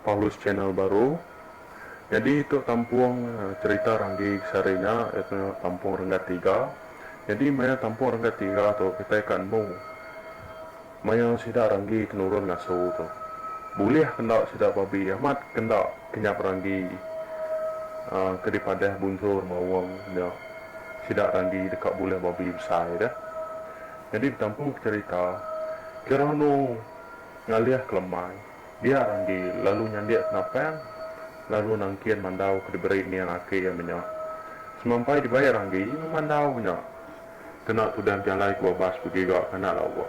Paulus channel baru. Nyadi tu tampung cherita ranggi sehari nya iya tu tampung renggat tiga. Nyadi maya tampung renggat tiga tu kitai ka nemu maya sida ranggi ke nurun ngasu tu bulih ke enda sida babi amat ke enda kenyap ranggi uhh ke dipadah bunsur maung nya sida ranggi deka bulih babi besai deh. Nyadi betampung ke cherita kira anu ngalih ke lemai. Dia Randi lalu nyandik senapang lalu nangkin mandau ke diberi niang aki iya menya. Semampai dibai Randi enggau mandau nya, kena tudah bejalai ke babas begiga kana lawa.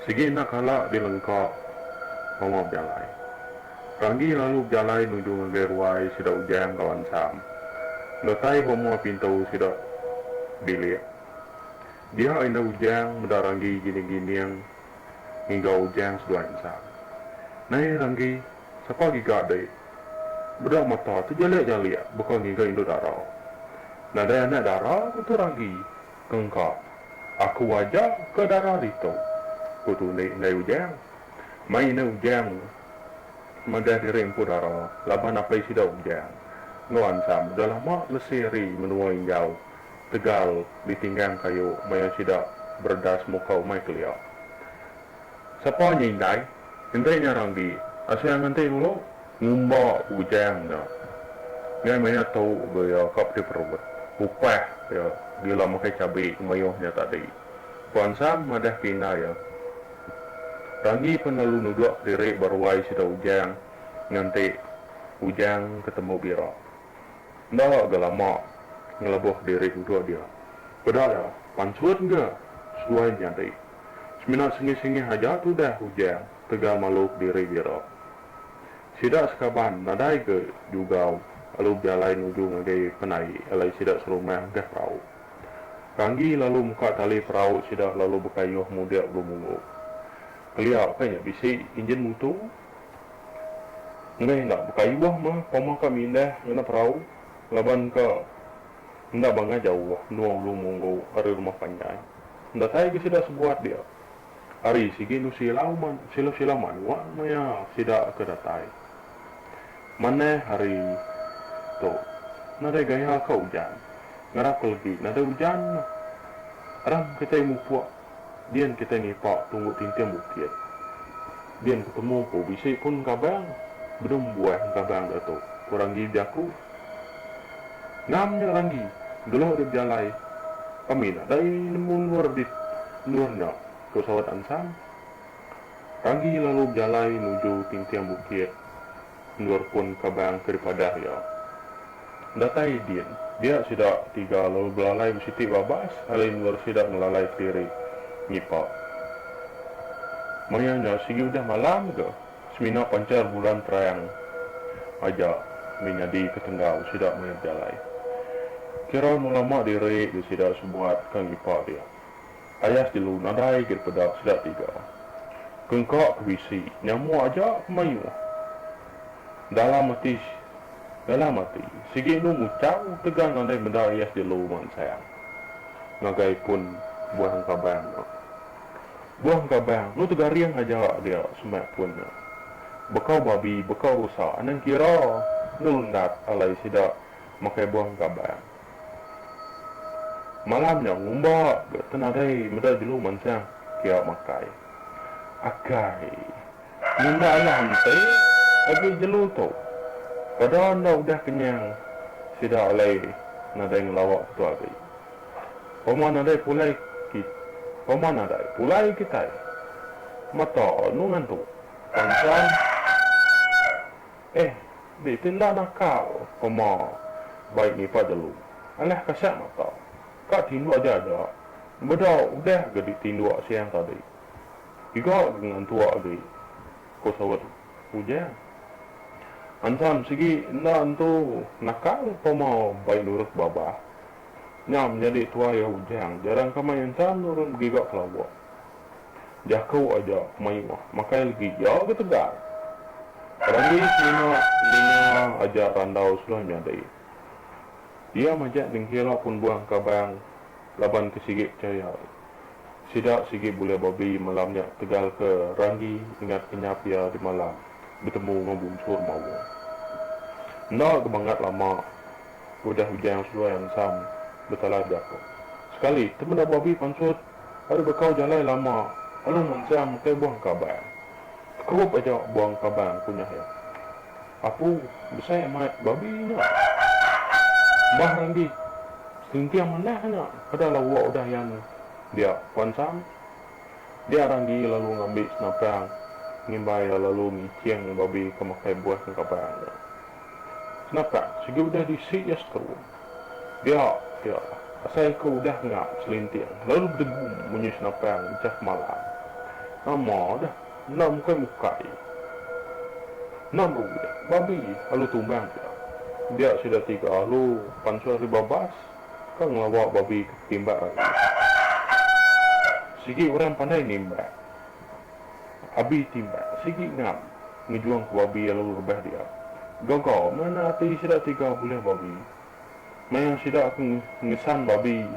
Sigi enda kala dilengka pengawa bejalai. Randi lalu bejalai nuju ngagai ruai sida Ujang enggau Ansam. Datai ba mua pintu sida bilik. Dia indah Ujang meda Randi gining-gining. enggau James belanja. Nai Ranggi, sapa giga deh beda mata tejalik-jalik baka ngiga indu dara. Nadai anak dara ku tu Ranggi. Engka, aku aja ke dara ditu, ku tu nih indai Ujang. Mai indai Ujang madah diri empu dara laban apai sida Ujang enggau Ansam udah lama lesi ari menua enggau Tegal ditinggang kayu maya sida beredas muka umai kelia. Sapa nya indai? Enti nya Randi, asil angan ti dulu ngumba bujang nya. Ngai maya tu be iya ka peti perut. Upah iya dila makai cabi ke mayuh nya tadi. Puan Sam madahka indai iya. Randi pen lalu nudukka diri ba ruai sida Ujang nganti Ujang ke tembu bira. Enda ga lama ngelabuh diri enggau dia. Peda iya, panchut ga seduai nyadi. Semina sengih-sengih aja tudah Ujang tegal malu kediri dira. Sida sekaban nadai ga jugau lalu bejalai nuju ngagai penai alai sida serumah enggah perau. Ranggi lalu muka tali perau sida lalu bekayuh mudik belumunggu. Kelia ka nya bisi injin mutu. Ngena enda bekayuh meh pama ka mindah ngena perau laban ka enda bangah jauh menua ulu munggu ari rumah panjai. Datai ke sida sebuat dia. Ari sigi enu silau sila-sila manua maya sida ke datai. Manah hari tu nadai gaya ka ujan. Ngarap ke legi nadai ujan meh. Arang kitai mupuk Dian kitai nipa tunggu tinting bukit. Dian ketemu ku bisi pun engkabang bedung buah engkabang da tu, ku Ranggi bejaku. Ngam nya Ranggi, gelo dep jalai. Kami enda dai nemu endur dip endur nya, ku saut Ansang. Ranggi lalu bejalai nuju tinting bukit. endur pun Kabang ke dipadah iya. Datai din, dia sida tiga lalu belalai besiti babas ari endur sida ngelalai kediri ngipa. Maya nya sigi udah malam ga, semina panchar bulan terang aja mih nyadi ke tenggau sida maya bejalai. Kira nulama diri ga sida sebuat ka ngipa dia. Ayah jelu nadai gin peda sida tiga. Kengka ke bisi nyamuk aja ke mayuh. Dalam ati dalam ati sigi enu muchau tegal nadai meda ayah jelu mansang ngagai pun buah engkabang nya. Buah engkabang tu tegaring aja dia semak pun nya. Bekau babi bekau rusa anang kira enu rendat alai sida makai buah engkabang. Malam nya ngumba ga ke nadai meda jelu mansang pia makai. Akai. Ngumba nya henti agi jelu tu. Pada enda udah kenyang sida alai nadai ngelawa ketua agi. Pama nadai pulai kit pama nadai pulai kitai. Mata anu ngantu. Panchan. Eh, di ti enda naka pema bai nipa jelu. Alah kasat mata. Ka tinduk aja ada. Bedau udah ga ditinduk siang tadi. Iga ga ngantuk agi, ku saut Ujang. Ansan sigi enda entu naka le pema bai nurut babah. Nya menyadi tuai Ujang, jarang ka mai Ansan nurun giga ke lawa. Jaku aja mayuh makai legi iya ketegal. Randi semina ninga aja randau sudah nyadi. Iya majak dengkira pun buah kabang laban ke sigi pechaya sida sigi bulih babi malam nya tegalka Randi ingat kenyap iya dimalam betemu enggau bunsur maung. Enda ke bangat lama udah bejang seduai ensam betala jaku sekali te meda babi pansut. Ari bekau jalai lama, lalu menchang utai Bang Kaban. Kekup aja Bang Kaban kunyah iya. Apu, besai amat babi nya. Bah Randi, selinting manah nya kada lawa udah iya nih, dia pansang. Dia Randi lalu ngambi senapang ngimbai iya lalu ngiching babi ke makai buah Bang Kaban nya. Senapang sigi udah disi iya seterum. Pia, pia. Asai iku udah nya selinting lalu bedegum munyi senapang udah kemalan. Nama dah enda mukai-mukai. Enda beruih. Babi alu tumbang pia. Dia sida tiga alu pansut ari babas ka ngelawa babi ke tetimbat ari. Sigi orang pandai nimbak. Abi timbak sigi ngam ngejuang ke babi iya lalu rebah dia. Gaga mana ati sida tiga bulih babi. Maya sida ke ngesan babi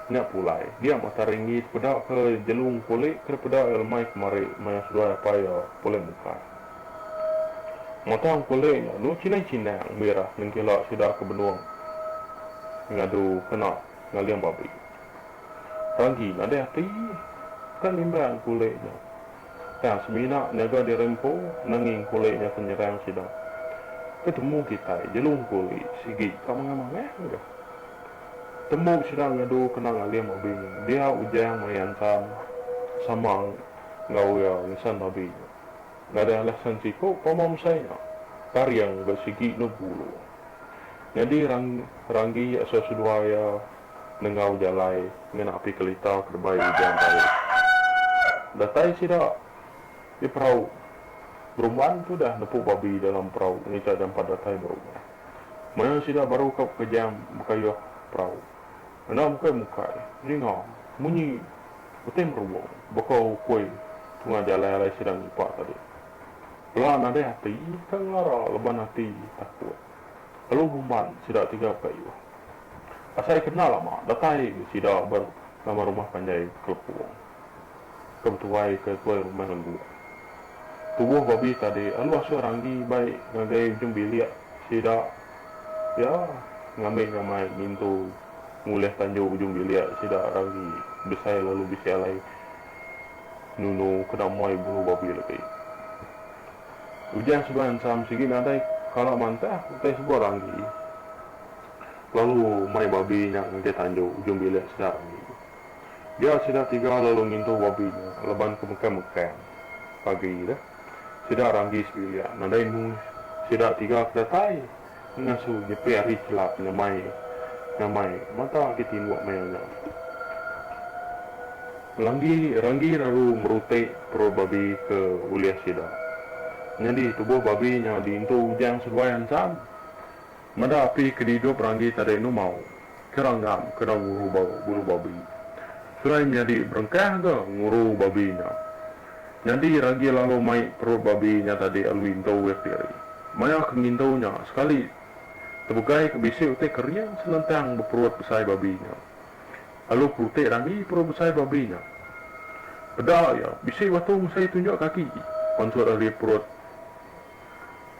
nya pulai, dia mata ringgit peda ke jelung kulit ke dipeda iya lemai kemari maya seduai apai iya pulai mukai. Matang kulit nya ulu chinang-chinang mirah nengkila sida ke benung ngadu kena ngaling babi. Pagi nadai ati ke nimbang kulit nya. Tang semina nyaga diri empu nenging kulit nya ke nyerang sida. Ke tembu kitai jelu kulit sigi ka mengah-mengah mega. Tembu sida ngedu kena ngalim babi nya dia ujang mai ancham sama enggau iya ngesan babi nya. Nadai alah san siku pama mesai nya taring ba sigi nup bulu. Nyadi rang ranggi asa seduai iya. nenggau jalai ngena api kelita ke debai ujan rau. Datai sida di perau Berumban tu dah nepu babi dalam perau ngicha jampat datai baru meh. Maya sida baru ka bekejang bekayuh perau enda mukai mukai ninga munyi uting berubung baka ukui tunga jalai alai sida ngipak tadi. Bela nadai ati ka ngelara leban ati takut lalu berumban sida tiga bekayuh. Asai kena lama datai sida ba nama rumah panjai Kelepong ke betuai ke tuai rumah Lenguk. Tubuh Babi tadi alu asuh Ranggi bai ngagai ujung bilik sida iya ngambi ngamai ngintu ngulih tanjung ujung bilik sida Ranggi besai lalu bisi alai nunu kena moi bunuh Babi legi. Ujan suba ensam sigi nadai kala mantah utai suba Ranggi. lalu mai babi nya ngagai tanjung ujung bilik sida agi. Dia sida tiga lalu ngintu babi nya laban ke mekai mekang. Pagi deh, sida ranggi sebilik nadai nemu sida tiga ke datai ngasu nyepi ari kelab nyamai nyamai mata agi tinduk maya nya. Langgi ranggi lalu meruti perut babi ke ulih sida. Nyadi tubuh babi nya diintu ujang seduai ansam. Meda api ke diidup Randi tadai numau ke ranggam ke dau nguru bulu babi. Surai menyadi berengkah ga nguru babi nya. Nyadi Ragi lalu mai perut babi nya tadi lalu intu wek diri. Maya ke ngintu nya sekali tebegai ke bisi utai kering senentang ba perut besai babi nya. Lalu pelutik Randi perut besai babi nya. Peda iya bisi batu mesai tunjuk kaki pansut ahli perut.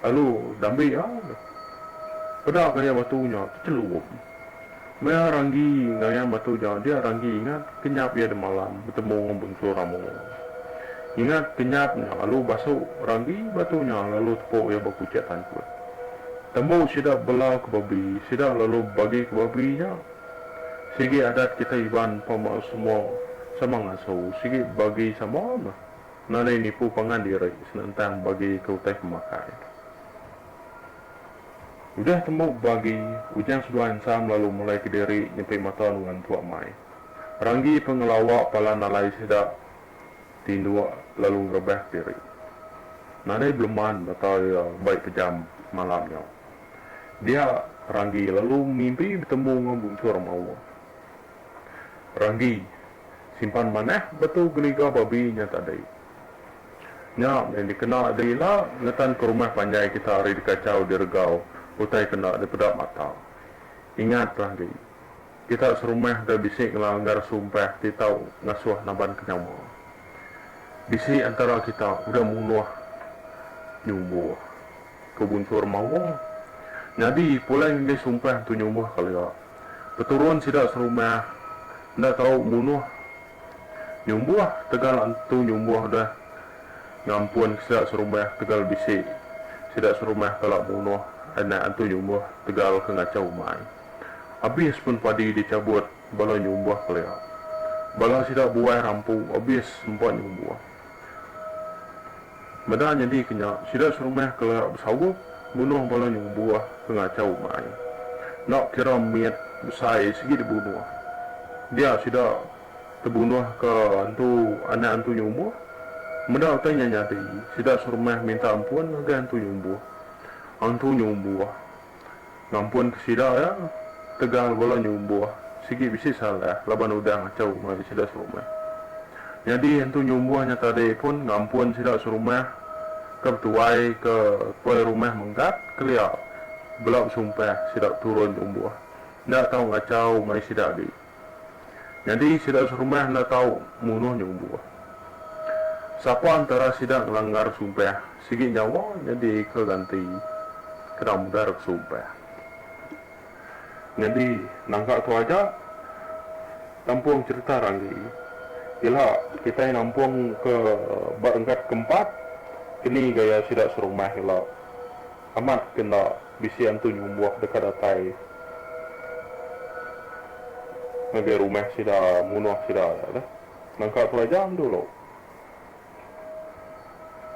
lalu dambi iya deh. Peda gaya batu nya techelup. Maya Ranggi ngayan batu nya dia Ranggi ingat kenyap iya demalam betemu enggau Bengkelu Ramu. Ingat kenyap nya lalu basu Ranggi batu nya lalu tepu iya ba pucik tangkut. Tembu sida bela ke babi sida lalu bagi ke babi nya. Sigi adat kita Iban pama semua sama ngasu sigi bagi sama meh. Nadai nipu pangan diri senentang bagi ke utai pemakai. Udah tembu bagi, Ujang seduai ensam lalu mulai ke diri nyepi mata enggau entuk mai. Ranggi pun ngelawa palan alai sida tinduk lalu ngerebah ke diri. Nadai beleman mata iya bai pejam malam nya. Dia Ranggi lalu mimpi betemu enggau Guntur maoh. Ranggi, simpan manah ba tu geliga babi nya tadi. Nya meh dikena diri ila ngetan ke rumah panjai kita ari dikachau diregau utai kena dipeda mata. Ingat Ranggi, kita serumah deh bisi ngelanggar sumpah ti tau ngasuh naban ke nyawa. Bisi antara kita udah munuh nyumbuh ke bunsur maung. Nyadi pulai ngembi sumpah tu nyumbuh kelia. Peturun sida serumah enda tau munuh Nyumbuh tegal antu Nyumbuh udah ngampunka sida serumah tegal bisi sida serumah kala munuh anak antu Nyumbuh tegal ke ngachau umai. Abis pun padi dichabut bala Nyumbuh kelia. Bala sida buai rampu abis sempa Nyumbuh. Meda nyadi ke nya, sida serumah ke larak besawa munuh bala nyumbuh ke ngachau umai. Enda kira mit besai sigi dibunuh. Dia sida tebunuh ke entu anak entu nyumbuh. Meda utai nya nyadi, sida serumah minta ampun ngagai entu nyumbuh. Entu nyumbuh. Ngampun ke sida iya, tegal bala nyumbuh sigi bisi salah laban udah ngachau mai sida serumah. Nyadi Entu Nyumbuh nya tadi pun ngampun sida serumah ke betuai ke koi rumah menggat kelia bela besumpah sida turun nyumbuh enda tau ngachau mai sida agi. Nyadi sida serumah enda tau munuh nyumbuh. Sapa antara sida ngelanggar sumpah, sigi nyawa nya diika ganti kena mudar ke sumpah. Nyadi, nangka tu aja nampung cherita randi. Ila kitai nampung ke ba renggat keempat, keni gaya sida serumah ila. Amat ke enda. Bisi antu nyumbuh deka datai ngagai rumah sida munuh sida nangka kerajaan dulu.